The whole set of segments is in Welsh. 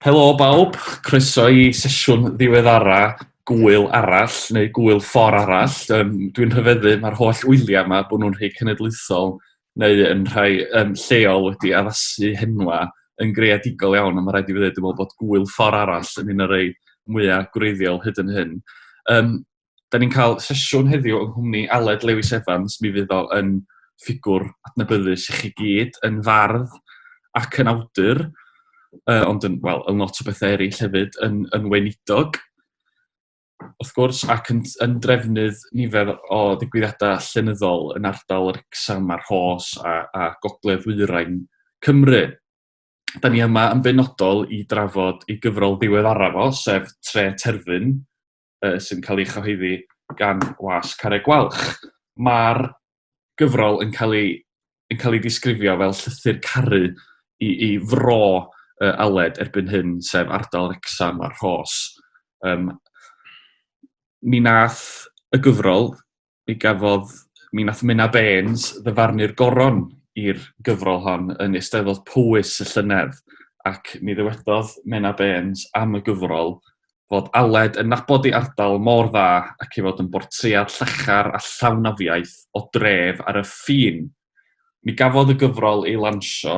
Helo bawb, croeso i sesiwn ddiweddara gwyl arall neu gwyl ffor arall. Um, Dwi'n rhyfeddu, mae'r holl wyliau yma bod nhw'n rhy cenedlaethol neu yn rhai yym lleol wedi addasu henwa yn greadigol iawn, ond ma' raid i fi ddeud dwi me'wl bod Gŵyl Ffor Arall yn un o rei mwya gwreiddiol hyd yn hyn. Yym 'dan ni'n ca'l sesiwn heddiw yng nghwmni Aled Lewis Evans, mi fydd o yn ffigwr adnabyddus i chi gyd, yn fardd ac yn awdur, yy ond yn wel yn lot o bethe eryll hefyd, yn yn weinidog. wrth gwrs, ac yn, yn drefnydd nifer o ddigwyddiadau llenyddol yn ardal yr Exam a'r Hos a, a Gogledd Wyrain Cymru. Da ni yma yn benodol i drafod ei gyfrol ddiwedd araf o, sef Tre Terfyn, uh, sy'n cael ei chyhoeddi gan Was Carreg Gwalch. Mae'r gyfrol yn cael ei, yn cael ei disgrifio fel llythyr caru i, i fro uh, Aled erbyn hyn, sef ardal Rexham a'r Rhos. Um, mi nath y gyfrol, mi gafodd, mi nath Mena Baines ddyfarnu'r goron i'r gyfrol hon yn Eisteddfod Powys y llynedd, ac mi ddywedodd Mena Baines am y gyfrol, fod Aled yn nabod ei ardal mor dda ac ei fod yn bortread llachar a llawn afiaith o dref ar y ffin. Mi gafodd y gyfrol ei lansio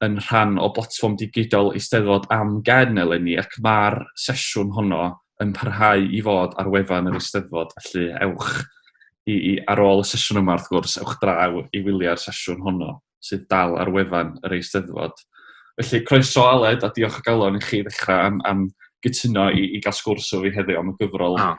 yn rhan o blatfform digidol Eisteddfod Am Gen eleni ac mae'r sesiwn honno yn parhau i fod ar wefan yr Eisteddfod, felly ewch i, i, ar ôl y sesiwn yma wrth gwrs, ewch draw i wylio'r sesiwn honno. sydd dal ar wefan yr Eisteddfod. Felly, croeso Aled, a diolch o galon i chi ddechrau am, am gytuno i, i gael sgwrs o fi heddiw am y gyfrol oh.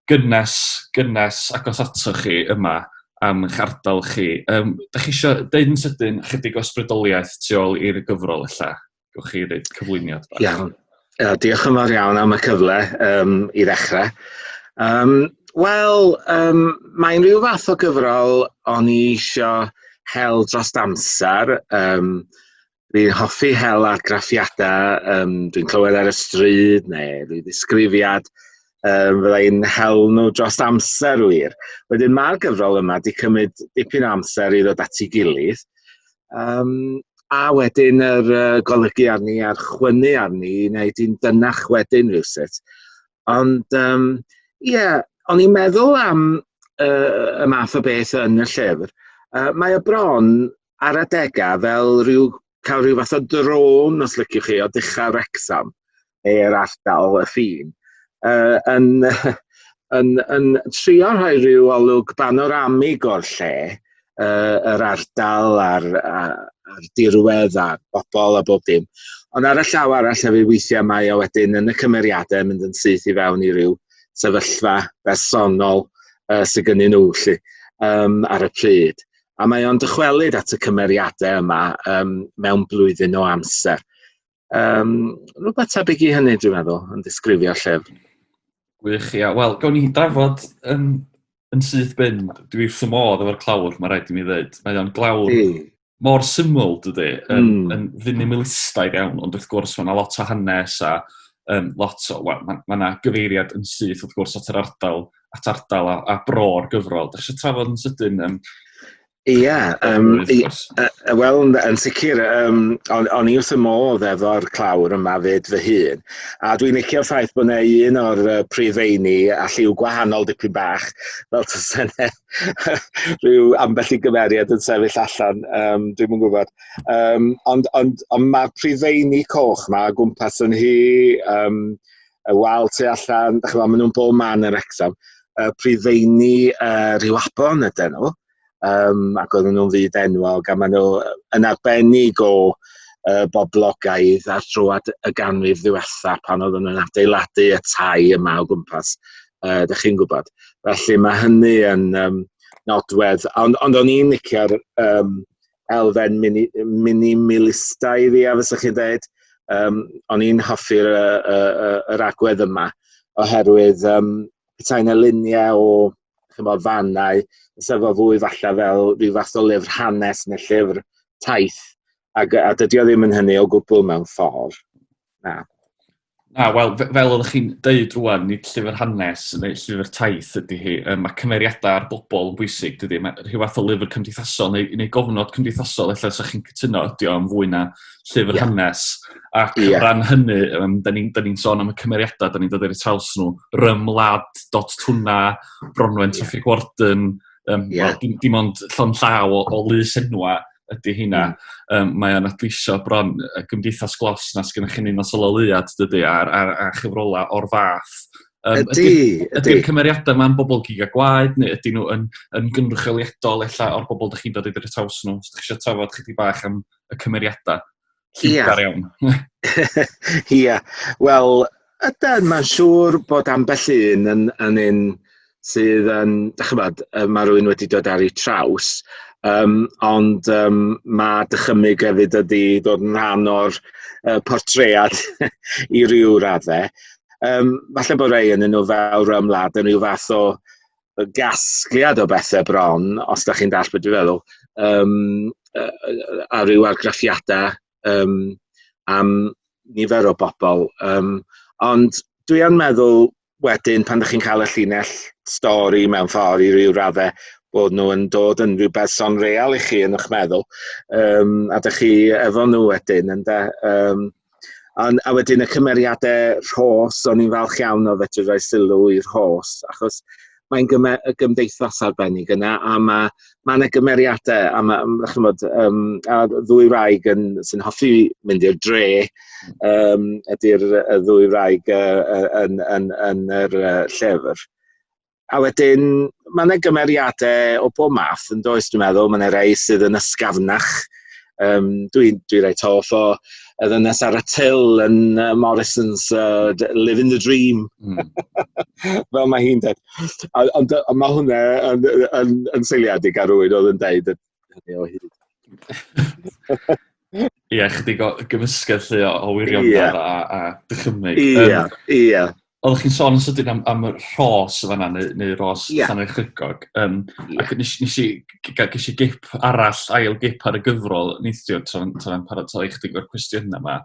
gynnes, gynnes agos ato chi yma am eich ardal chi. Um, da chi eisiau deud yn sydyn chydig o ysbrydoliaeth tu ôl i'r gyfrol allan? Gwch chi ddeud cyflwyniad bach. Iawn. Uh, diolch yn fawr iawn am y cyfle um, i ddechrau. Um, Wel, um, mae'n rhyw fath o gyfrol o'n i eisiau hel dros amser. Um, Fi'n hoffi hel argraffiadau, um, dwi'n clywed ar y stryd neu rhyw ddisgrifiad Um, fydda i'n hel nhw dros amser wir. Wedyn mae'r gyfrol yma wedi cymryd dipyn amser i ddod at ei gilydd. Um, a wedyn yr uh, golygu arni a'r chwynu arni i wneud i'n dynach wedyn rhywsut. Ond, ie, um, yeah, o'n i'n meddwl am uh, y math o beth yn y llyfr. Uh, mae y bron ar adegau fel rhyw, cael rhyw fath o drôn, os liciwch chi, o dechrau Wrexham, neu'r ardal y ffin, uh, yn, yn, yn trio rhoi rhyw olwg banoramig o'r lle, uh, yr ardal a'r, a'r dirwedd a'r bobl a bob dim. Ond ar y llaw arall hefyd weithiau mae o wedyn yn y cymeriadau mynd yn syth i fewn i ryw sefyllfa bersonol uh, sydd gynnyn nhw lle, um, ar y pryd. A mae o'n dychwelyd at y cymeriadau yma um, mewn blwyddyn o amser. Um, rhywbeth tebyg i hynny, dwi'n meddwl, yn disgrifio llyfr. Gwych, ia. Wel, gawn ni drafod yn, yn syth bin. Dwi wrth y modd efo'r clawr, mae rhaid i mi ddweud. Mae o'n glawr Di. mor syml, dydy, yn, mm. yn finimalistaidd iawn, ond wrth gwrs mae yna lot o hanes a um, lot o... Wel, mae yna ma gyfeiriad yn syth, wrth gwrs, at yr ardal at ardal a, a bro'r gyfrol. Dych eisiau trafod yn sydyn um, Ie, um, wel, yn sicr, um, on, on i wrth y modd efo'r clawr yma fyd fy hun, a dwi'n licio'r ffaith bod yna un o'r uh, prif feini a lliw gwahanol dipyn bach, fel tas yna rhyw ambell i gymeriad yn sefyll allan, um, dwi'n yn gwybod. Um, ond ond, ond mae'r prif feini coch yma gwmpas yn hi, um, y wal tu allan, dych chi'n maen nhw'n bob man yn Wrexham. Uh, prifeini uh, rhyw abon ydyn nhw, um, ac oedden nhw'n fyd enwog, a maen nhw yn arbennig o uh, boblogaidd ar drwad y ganrif ddiwetha pan oedden nhw'n adeiladu y tai yma o gwmpas, uh, dych chi'n gwybod. Felly mae hynny yn um, nodwedd, ond, ond o'n i'n licio'r um, elfen mini, minimalistaidd ia, fysa chi dweud. Um, o'n i'n hoffi'r yr agwedd yma, oherwydd um, petai yna luniau o chymod, fannau, fysa fo fwy falle fel rhyw fath o lyfr hanes neu llyfr taith, ac, a dydy o ddim yn hynny o gwbl mewn ffordd. Na. Na, wel, fe- fel oeddech chi'n deud rwan, nid llyfr hanes neu llyfr taith ydy hi. Yy, ma' cymeriadau a'r bobl yn bwysig, dydy? Mae rhyw fath o lyfr cymdeithasol neu neu gofnod cymdeithasol ella 'sa chi'n cytuno ydi o yn fwy na llyfr yeah. hanes. Ac yeah. o ran hynny, um, da ni'n ni, ni sôn am y cymeriadau, da ni'n dod i'r traws nhw, Rymlad, Dot Tuna, Bronwen Traffig yeah. Warden, um, yeah. well, dim, dim ond llon llaw o, o lys enwa, ydy hynna. Um, mae o'n adleisio bron y gymdeithas glos na sgynnych chi'n un o syloleuad, dydy, a, a, a chyfrola o'r fath. Um, ydy, ydy. Ydy'r cymeriadau yma'n bobl gig a gwaed, neu ydy nhw yn, yn gynrychioliadol ella o'r bobl ydych chi'n dod i ddod i'r taws nhw? Ydych chi eisiau trafod chydig bach am y cymeriadau? Ia. Dar iawn. Ia. Wel, yden, mae'n siŵr bod ambell un yn, yn un sydd yn, da chybod, mae rhywun wedi dod ar ei traws, um, ond um, mae dychymyg hefyd ydy dod yn rhan o'r uh, portread i ryw raddau. Um, falle bod rei yn nhw fel rhywun wlad yn rhyw fath o y gasgliad o bethau bron, os da chi'n dall beth dwi'n feddwl, um, a rhyw argraffiadau um, am nifer o bobl. Um, ond dwi yn meddwl wedyn pan ydych chi'n cael y llinell stori mewn ffordd i ryw raddau bod nhw yn dod yn rhyw berson real i chi yn eich meddwl um, a ydych chi efo nhw wedyn ynda um, Ond, a wedyn y cymeriadau rhos, o'n i'n falch iawn o fedru rhoi sylw i'r rhos, achos mae'n gyme- y gymdeithas arbennig yna, a mae ma yna gymeriadau, a mae, mm, chymod, um, a ddwy wraig yn, sy'n hoffi mynd i'r dre, um, ydy'r y ddwy wraig uh, yn, yn, yn, yn yr uh, llyfr. A wedyn, mae yna gymeriadau o bob math yn does, dwi'n meddwl. Mae yna rei sydd yn ysgafnach. Um, dwi'n dwi reit hoff o y ddynes ar y til yn uh, Morrison's uh, Living the Dream. Mm. Fel mae hi'n dweud. Ond mae hwnna yn, yn, yn, yn seiliadig ar rwy'n oedd yn dweud hynny o hyd. Ie, chdi gymysgedd lle o, o wirion yeah. a, a dychymyg. Ie, yeah, ie. Yeah. Oeddech chi'n sôn yn sydyn am, am y rhos y fanna, neu, neu rhos yeah. Llanrhaid Chygog. Um, yeah. Ac nes, nes i, ges i gip arall, ail gip ar y gyfrol, neithio, tra'n tra paratoi chdig o'r cwestiynau yma.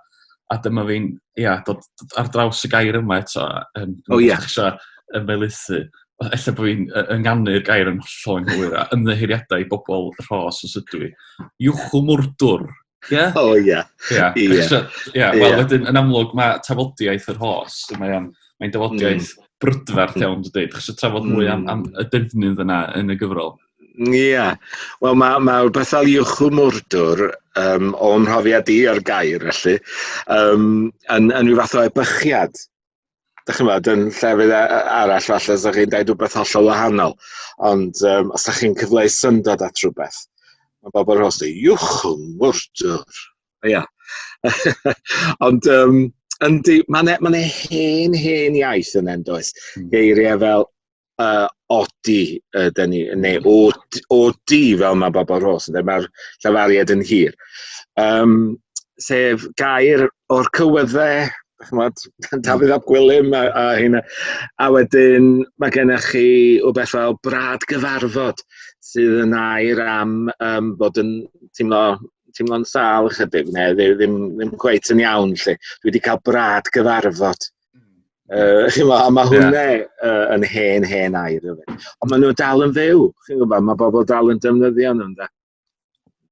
A dyma fi'n, ia, yeah, dod, dod ar draws y gair yma eto. Um, oh, ia. Yeah. Yn meilithu. Ella bod fi'n ynganu'r gair yn hollol yn hwyr a ymddeheiriadau i bobl rhos os ydw i. Iwchw mwrdwr Ie? O ie. Ie. Ie. So, ie, wel wedyn yn amlwg mae tafodiaeth yr hos, mae o'n mae'n mm. dafodiaeth mm. brydferth mm. iawn dydy. Dych chi trafod mwy am, am mm. y defnydd yna yn y gyfrol? Ie. Yeah. Wel mae ma rhywbeth fel Iwchw Mwrdwr, um, o'm mhrofiad i ar gair felly, um, yn, yn rhyw fath o ebychiad dych chi'n meddwl, yn llefydd e- e- arall falle os ydych chi'n dweud rhywbeth hollol wahanol. Ond um, os ydych chi'n cyfleu syndod at rhywbeth, mae bobl yn hostau, iwch yng ngwrdwr. Ia. Ond um, yndi, mae'n e, ma hen, hen iaith yn endoes. Hmm. Geiriau fel Yy, odi yden ni, neu od- odi fel mae bobl Rhos yn dweud, mae'r llafariad yn hir. Yym, sef gair o'r cywyddau, chimod, Dafydd ap Gwilym a a heina. A wedyn mae gennych chi rywbeth fel brad gyfarfod, sydd yn air am yym bod yn teimlo teimlo'n sâl ychydig, neu ddi- ddim ddim cweit yn iawn 'lly. "Dwi 'di cael brad gyfarfod." Uh, chi'n gwybod, a mae hwnna yeah. uh, yn hen, hen air. Rhywbeth. Ond maen nhw dal yn fyw, chi'n gwybod, mae bobl dal yn defnyddio nhw'n da.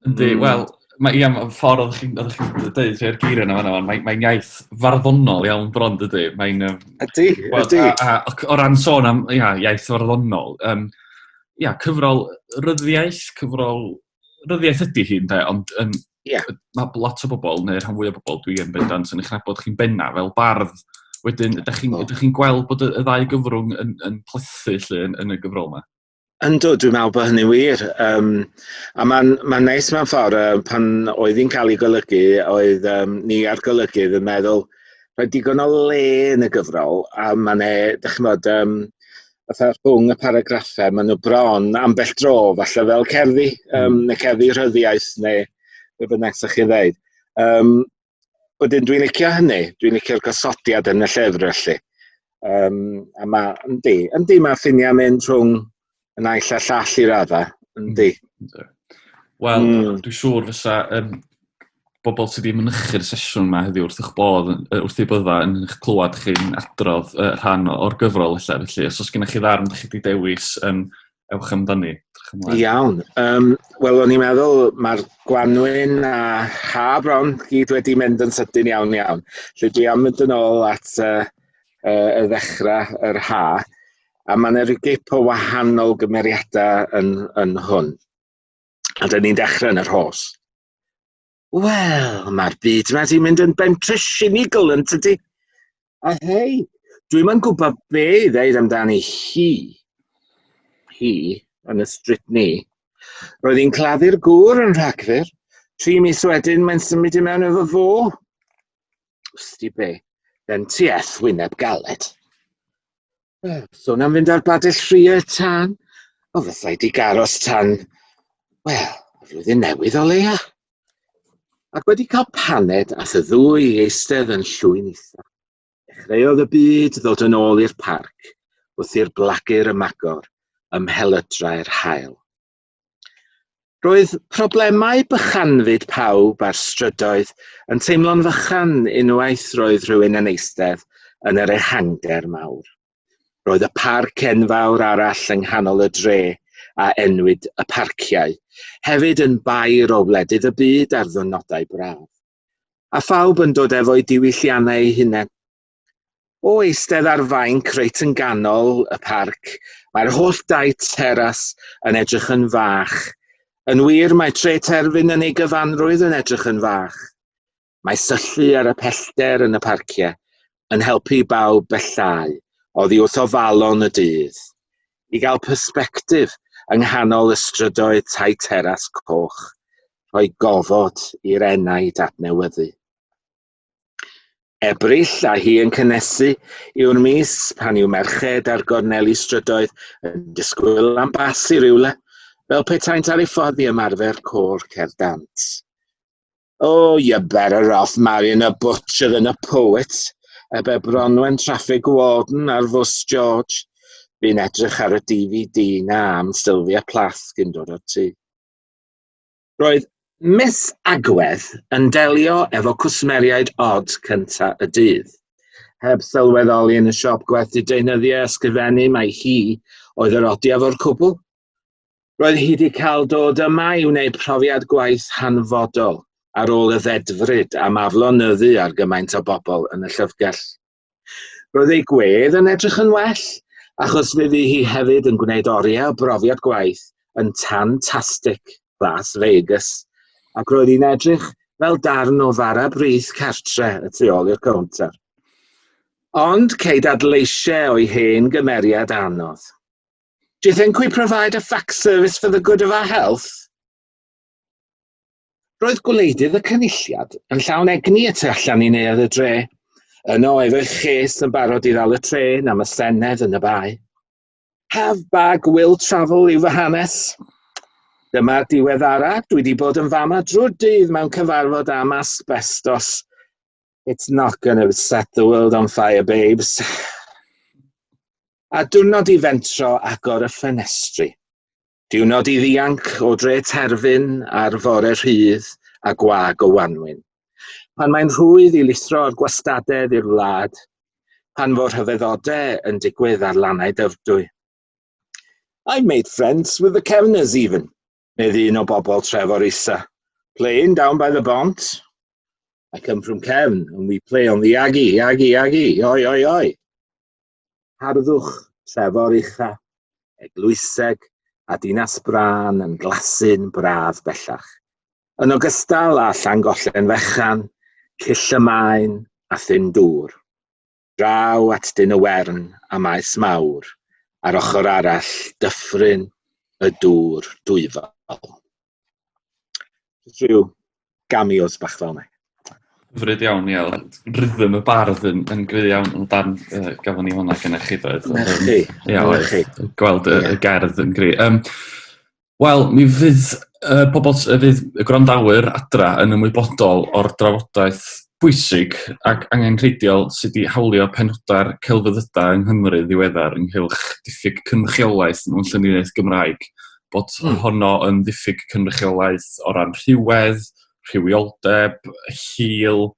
Yndi, mm. wel, mae iawn, y ffordd oedd chi'n chi dweud rhai'r geiriau yna fanna, mae'n mae iaith farddonol iawn bron dydy. Mae'n... Ydy, ydy. O ran sôn am ia, iaith farddonol, um, ia, cyfrol ryddiaeth, cyfrol ryddiaeth ydy hi, ynde, ond um, yeah. mae lot o bobl, neu rhan fwy o bobl, dwi yn bendant yn eich nabod chi'n benna fel bardd. Wedyn, ydych chi'n oh. chi gweld bod y, y ddau gyfrwng yn, yn plethu lle yn, yn y gyfrol yma? Ynddo, dwi'n meddwl bod hynny'n wir. Um, a mae'n ma neis mewn ffordd, uh, pan oedd hi'n cael ei golygu, oedd um, ni ar golygydd yn meddwl, rhaid digon o le yn y gyfrol, a mae'n e, dych chi'n bod, um, fatha rhwng y paragraffau, maen nhw bron ambell dro, falle fel cerddi, um, neu cerddi rhyddiaeth, neu be bynnag sa'ch chi ddeud. Um, wedyn dwi'n licio hynny, dwi'n licio'r gosodiad yn y llyfr felly. Um, a mae, yndi, yndi mae ffiniau mynd rhwng y naill a llall i radda, yndi. Mm, Wel, mm. dwi'n siŵr fysa um, bobl sydd wedi mynychu'r sesiwn yma heddiw wrth eich bodd, wrth ei bydda yn eich clywed chi'n adrodd uh, rhan o'r gyfrol lle. Felly, os oes gennych chi ddarn ydych chi wedi dewis, um, ewch amdani. Iawn. Um, Wel, o'n i'n meddwl mae'r Gwanwyn a Ha Bron gyd wedi mynd yn sydyn iawn iawn. Lle dwi am mynd yn ôl at uh, uh, y ddechrau, yr Ha, a mae yna rhyw gip o wahanol gymeriadau yn, yn hwn. A dyn ni'n dechrau yn y rhos. Wel, mae'r byd yma wedi mynd yn bentre sinigol yn tydi? A hei, dwi'n ma'n gwybod be i ddeud amdani hi. Hi, yn y strit ni. Roedd hi'n claddu'r gŵr yn rhagfyr. Tri mis wedyn, mae'n symud i mewn efo fo. Wsti be, then ti eth wyneb galed. Wel, sôn am fynd ar badell ffriau tan, o fysa i di garos tan, wel, flwyddyn newydd o leia. Ac wedi cael paned a y ddwy i eistedd yn llwyn eitha. Dechreuodd y byd ddod yn ôl i'r parc, wrth i'r blagur ymagor ymhelydrau'r hael. Roedd problemau bychanfyd pawb ar strydoedd yn teimlo'n fychan unwaith roedd rhywun yn eistedd yn yr ehangder mawr. Roedd y parc enfawr arall yng nghanol y dre, a enwyd y Parciau, hefyd yn bair o wledydd y byd ar ddwrnodau braf. A phawb yn dod efo'u diwylliannau eu hunain. O eistedd ar fainc reit yn ganol y parc, mae'r holl dai teras yn edrych yn fach. Yn wir, mae tre terfyn yn ei gyfanrwydd yn edrych yn fach. Mae syllu ar y pellter yn y parciau yn helpu i bawb bellhau oddi wrth ofalon y dydd, i gael persbectif yng nghanol y strydoedd tai teras coch, rhoi gofod i'r enaid adnewyddu. Ebrill a hi yn cynnesu yw'r mis pan yw merched ar gorneli strydoedd yn disgwyl am bas i rywle, fel petaent ar ei ffordd i ymarfer côr cerdant. Oh, you're better off marrying a butcher than a poet, y be Bronwen Traffig Warden ar fws George. Fi'n edrych ar y DVD na am Sylvia Plath gyn dod o'r tŷ. Roedd Miss Agwedd yn delio efo cwsmeriaid od cynta y dydd. Heb sylweddoli yn y siop gwerthu deunyddiau ysgrifennu mai hi oedd yr odiaf o'r cwbl. Roedd hi wedi cael dod yma i wneud profiad gwaith hanfodol ar ôl y ddedfryd am aflonyddu ar gymaint o bobl yn y llyfrgell. Roedd ei gwedd yn edrych yn well, achos fe fu hi hefyd yn gwneud oriau o brofiad gwaith yn tan tastic Las Vegas, ac roedd hi'n edrych fel darn o fara brith cartre y tu ôl i'r cownter. Ond ceid adleisiau o'i hen gymeriad anodd. Do you think we provide a fax service for the good of our health? Roedd gwleidydd y Cynulliad yn llawn egni y tu allan i neuadd y dre. Yno oedd eich lles yn barod i ddal y trên am y Senedd yn y Bae. Have bag will travel yw fy hanes. Dyma'r diweddara, dwi wedi bod yn fama drwy'r dydd mewn cyfarfod am asbestos. It's not going to set the world on fire, babes. A diwrnod i fentro agor y ffenestri. Diwrnod i ddianc o dre terfyn ar fore rhydd a gwag o wanwyn. Pan mae'n rhwydd i lithro o'r gwastadedd i'r wlad, pan fo rhyfeddodau yn digwydd ar lannau dyfrdwy. I made friends with the Kevners even, medd un o bobl Trefor Isa. Playing down by the bont. I come from Kevn, and we play on the Aggie, Aggie, Aggie, oi, oi, oi. Harddwch, Trefor Uchaf, Eglwyseg a Dinas Brân yn glasu'n braf bellach, yn ogystal â Llangollen Fechan, Cyll y Maen a Thyn Dŵr. Draw at Dyn y Wern a Maes Mawr ar ochr arall Dyffryn y Dŵr Dwyfol. Rhyw gamios bach fel yna. Hyfryd iawn, ie. Rhythm y bardd yn, yn gry iawn yn dan uh, gafon ni hwnna gyda chi doedd. Na chi. Ia, chi. Gweld y, y gerdd yn gry. Um, Wel, mi fydd uh, pobl, uh, fydd y gwrandawyr adra yn ymwybodol o'r drafodaeth bwysig ac angen rheidiol sydd wedi hawlio penodau'r celfyddydau yng Nghymru ddiweddar ynghylch diffyg cynrychiolaeth mewn lluniaeth Gymraeg bod mm. honno yn ddiffyg cynrychiolaeth o ran rhywedd, rhywioldeb, hil,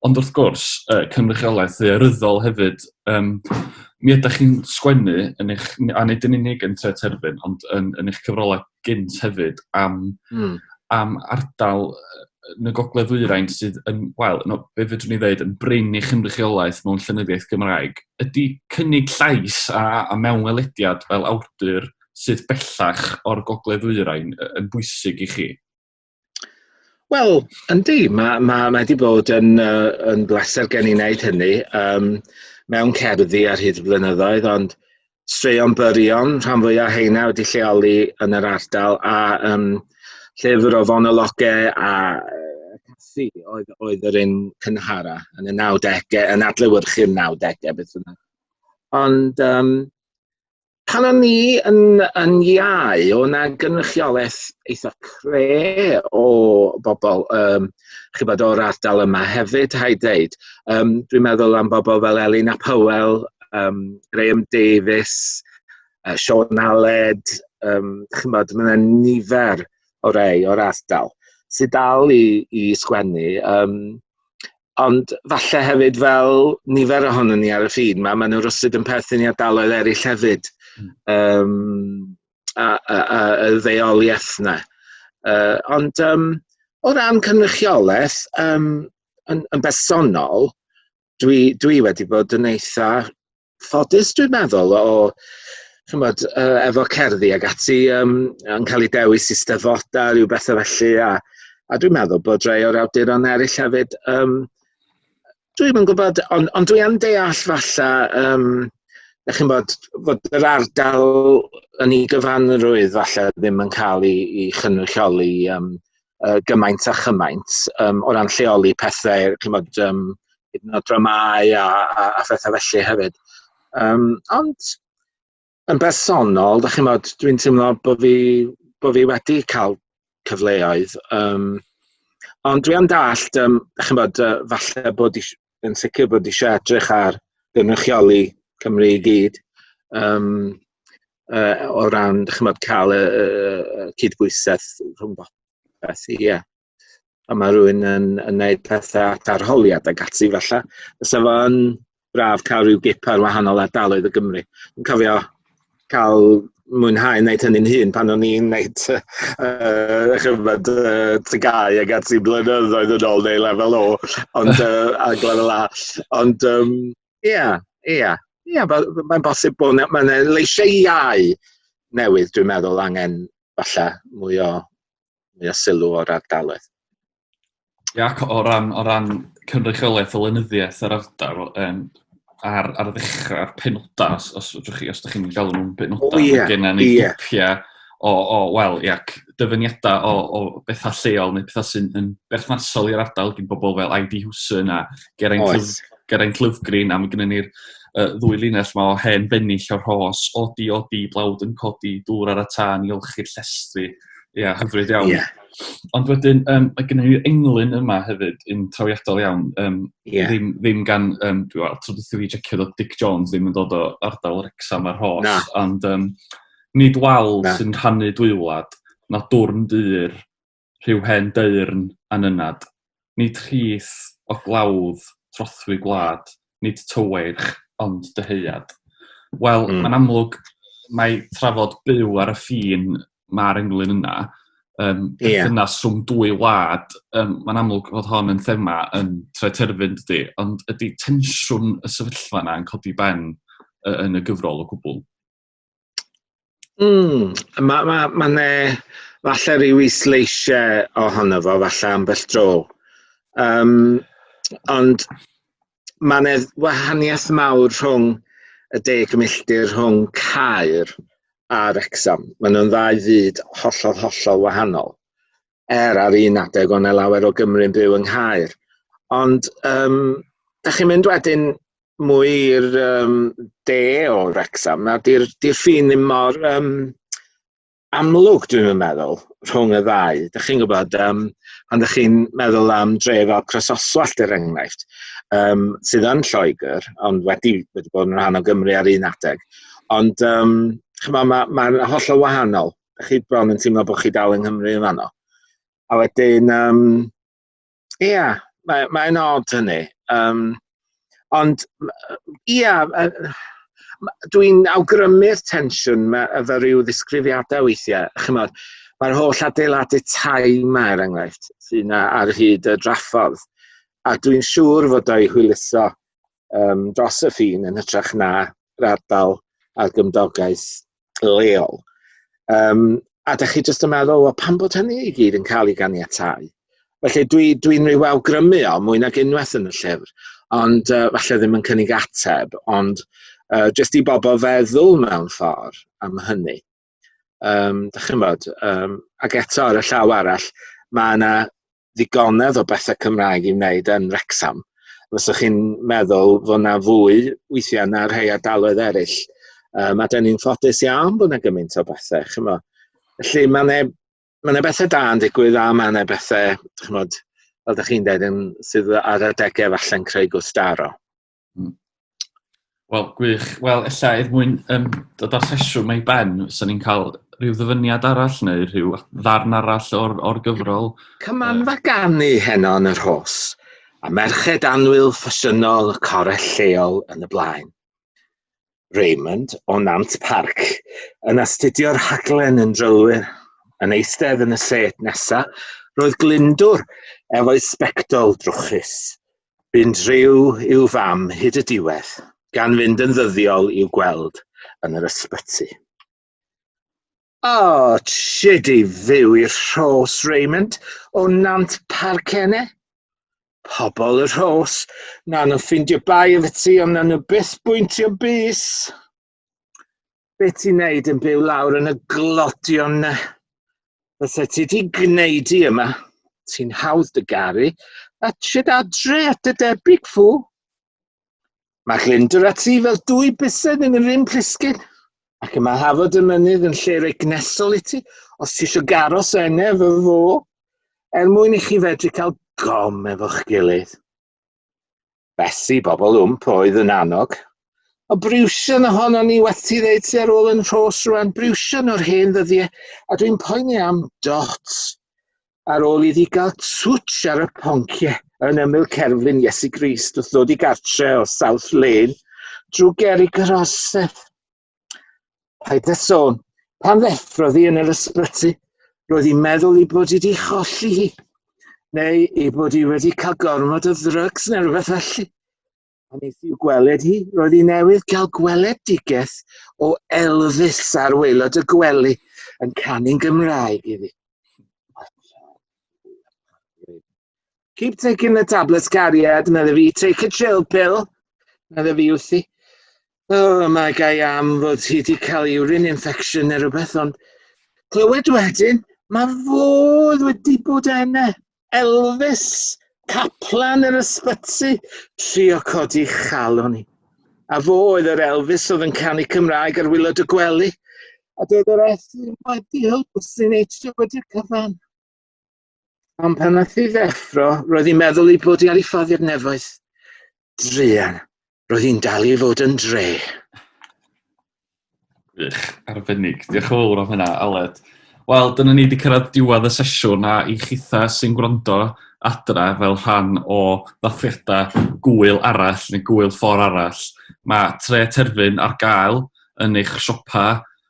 ond wrth gwrs, uh, cynrychiolaeth ddearyddol hefyd. Um, mi ydych chi'n sgwennu yn eich, a nid yn unig yn tre terfyn, ond yn, yn eich cyfrolau gynt hefyd am, mm. am ardal yn y gogledd ddwyrain sydd yn, wel, no, be fydrwn ni ddeud, yn brin i chynrychiolaeth mewn llenyddiaeth Gymraeg, ydy cynnig llais a, a mewnwelediad fel awdur sydd bellach o'r Gogledd Ddwyrain yn bwysig i chi? Wel, yndi, mae ma, ma wedi bod yn, uh, yn bleser gen i wneud hynny um, mewn cerddi ar hyd y blynyddoedd, ond straeon byrion, rhan fwyaf heina wedi lleoli yn yr ardal, a um, llyfr o fonologau a caffi oedd, oedd yr un cynhara yn y 90au, yn adlewyrchu'r 90au, beth yna. Ond um, Pan o'n ni yn, yn iau, o na gynrychiolaeth eitha cre o bobl, um, chi'n bod o'r ardal yma hefyd, hai dweud. Um, dwi'n meddwl am bobl fel Elin a Powell, um, Graham Davis, uh, Sean Aled, um, chi'n bod, mae nifer o rei o'r ardal sydd dal i, i sgwennu. Um, Ond falle hefyd fel nifer ohono ni ar y ffin 'ma, maen nhw rywsut yn perthyn i ardaloedd eraill hefyd, um, a a a y ddeuoliaeth 'na. Uh, ond um, o ran cynrychiolaeth, um, yn yn bersonol, dwi dwi wedi bod yn eitha ffodus dwi'n meddwl o ch'mod yy efo cerddi ag ati yym yn cael ei dewis i steddfodau rhyw betha felly a a dwi'n meddwl bod rhai o'r awduron eraill hefyd yym dwi'm yn gwybod ond ond dwi yn deall falle yym dach chi'n bod fod yr ardal yn ei gyfanrwydd falle ddim yn cael ei ei chynrychioli yym uh, gymaint a chymaint um, o ran lleoli pethau, chymod, um, hyd yn oed dramau a, a, a phethau felly hefyd. Um, ond yn bersonol, da chi'n modd, dwi'n teimlo bod fi, bod fi wedi cael cyfleoedd. Um, ond dwi am dallt, um, da chi'n modd, uh, falle bod eisiau yn sicr bod eisiau edrych ar gynrychioli Cymru i gyd um, uh, o ran chymod, cael y, y, y cydbwysedd rhwng beth i, ie. A mae rhywun yn, yn gwneud pethau at arholiad ag ati falle. Fysa fo'n braf cael rhyw gip ar wahanol ardaloedd o Gymru. Dwi'n cofio cael mwynhau wneud hynny'n hun pan o'n i'n wneud uh, chyfod uh, tygau ag at i blynyddoedd yn ôl neu lefel o, ond uh, a lefel A. Ond, um, yeah, yeah, yeah, mae'n bosib bod yna, mae yna leisiau iau newydd, dwi'n meddwl, angen falle mwy o, mwy o sylw o'r ardaloedd. Ie ac o ran o ran cynrychiolaeth y lenyddiaeth yr ardal yym ar ar ddechrau'r penodau os os fedrwch chi os ydych chi'n galw nhw'n benodau... O ie. ...ma' genna ni ie. grwpia o o wel ie ac dyfyniada o o betha lleol neu petha sy'n yn berthnasol i'r ardal gin bobl fel Ivy Hewson a Geraint... Oes. ...Lwf- Geraint Lufgrin a ma' gynnon ni'r yy ddwy linell 'ma o hen bennill o'r rhos, odi odi blawd yn codi dŵr ar y tân i olchi'r llestri. Ia hyfryd iawn. Ia. Ond wedyn, um, mae gennym ni'r englyn yma hefyd, yn trawiadol iawn. Um, yeah. ddim, ddim gan, um, dwi wel, tro dwi checio dod Dick Jones ddim yn dod o ardal Rexham ar hos. Na. Ond um, nid wal Na. sy'n rhannu dwy wlad, na dwrn dyr, rhyw hen deyrn anynad. Nid rhith o glawdd trothwy gwlad, nid tyweirch, ond dyheuad. Wel, mm. mae'n amlwg mae trafod byw ar y ffin mae'r englyn yna, um, yeah. yna swm dwy wlad, um, mae'n amlwg fod hon yn thema yn tre terfyn dydy, ond ydy tensiwn y sefyllfa yna yn codi ben uh, yn y gyfrol o gwbl? Mm, mae ma, ma ne, falle rhyw i sleisiau ohono fo, falle ambell dro. Um, ond mae ne wahaniaeth mawr rhwng y deg milltir rhwng Caer a Wrexham. Mae nhw'n ddau fyd hollol, hollol wahanol. Er ar un adeg o'n e lawer o Gymru'n byw yng Nghaer. Ond um, da chi'n mynd wedyn mwy i'r um, de o Wrexham, na di'r di ffin ddim mor um, amlwg, dwi'n meddwl, rhwng y ddau. Dych chi'n gwybod, um, pan dych chi'n meddwl am dref fel Crososwallt er enghraifft, um, sydd yn Lloegr, ond wedi, wedi bod yn rhan o Gymru ar un adeg. Ond, um, chyma, mae'n ma, ma holl o wahanol. Dych chi bron yn teimlo bod chi dal yng Nghymru yn fanno. A wedyn, um, Ia, mae mae'n od hynny. Yym, ond m- yy ia, yy, m- dwi'n awgrymu'r tensiwn 'ma efo ryw ddisgrifiadau weithiau. Chimod, mae'r holl adeiladu tai 'ma, er enghraifft, sy 'na ar hyd y draffordd, a dwi'n siŵr fod o'i hwyluso um, dros y ffin yn hytrach na radal ar gymdogaeth leol. Um, a da chi jyst yn meddwl, o, pan bod hynny i gyd yn cael ei ganiatau? Felly dwi'n dwi, dwi rhyw awgrymu o mwy nag unwaith yn y llyfr, ond uh, falle ddim yn cynnig ateb, ond uh, jyst i bobl feddwl mewn ffordd am hynny. Um, da chi'n bod, um, ac eto ar y llaw arall, mae yna ddigonedd o bethau Cymraeg i wneud yn Wrecsam, fysa chi'n meddwl fod yna fwy weithiau na rhai ardaloedd eraill. Um, a dyn ni'n ffodus iawn bod yna gymaint o bethau, chymo. Felly mae yna ma yna bethau da yn digwydd a mae yna bethau, chymod, fel ydych chi'n dweud, yn, sydd ar adegau falle'n creu gwstaro. Mm. Wel, gwych. Wel, ella er mwyn um, dod â'r sesiwn mae i ben, so ni'n cael rhyw ddyfyniad arall neu rhyw ddarn arall o'r, or gyfrol. Cymanfa ganu heno yn yr hos, a merched anwyl ffasiynol y corell lleol yn y blaen. Raymond o Nant Parc yn astudio'r rhaglen yn drylwyr. Yn eistedd yn y set nesa, roedd Glyndwr efo'i sbectol drwchus. Bu'n driw i'w fam hyd y diwedd, gan fynd yn ddyddiol i'w gweld yn yr ysbyty. O, trid i fyw i'r Rhos, Raymond, o Nant Parcenne. Pobl y Rhos, na nhw ffeindio bai efo ti, ond na nhw byth bwyntio bys. Be ti'n neud yn byw lawr yn y glodion na? Fysa ti di gwneud i yma. Ti'n hawdd dy garu, a trid adre at dy debyg fu. Mae Glyndwr a Tri fel dwy bysedd yn yr un plisgyn, ac y mae hafod y mynydd yn lle roi gnesol i ti, os ti eisiau garos ene fy fo, er mwyn i chi fedru cael gom efo'ch gilydd. Besi, bobl wmp oedd yn annog. O briwsion ohono ni weti ddeud ti ar ôl yn rhos rwan, briwsion o'r hen ddyddiau, a dwi'n poeni am dots. ar ôl iddi gael twtsh ar y poncie yn ymyl cerflun Iesu Grist wrth ddod i gartre o South Lane drwy geri Groseth. Paid â sôn, pan ddeffrodd hi yn yr ysbyty, roedd hi'n meddwl i bod hi wedi cholli hi, neu i bod hi wedi cael gormod o ddrygs neu rhywbeth felly. A nes i'w gweled hi, roedd hi newydd gael gweledigaeth o Elvis ar waelod y gwely yn canu'n Gymraeg iddi. Keep taking the tablets, cariad, medda fi. Take a chill pill, medda fi wrthi. Oh, mae gai am fod hi wedi cael urine infection neu rhywbeth, ond clywed wedyn, mae fodd wedi bod enna. Elvis, caplan yr ysbyty, trio codi chalon i. A fo oedd yr Elvis oedd yn canu Cymraeg ar wylod y gwely, a doedd yr Elfyn wedi helpu sy'n eisiau wedi'r cyfan. Ond pan nath i ddeffro, roedd hi'n meddwl ei bod i ar ei ffordd i'r nefoedd. Druan. Roedd hi'n dal i fod yn dre. Wych, arbennig. Diolch yn fawr am hynna, Aled. Wel, dyna ni wedi cyrraedd diwedd y sesiwn a i chitha sy'n gwrando adra fel rhan o ddathliadau gwyl arall neu gwyl ffordd arall. Mae tre terfyn ar gael yn eich siopa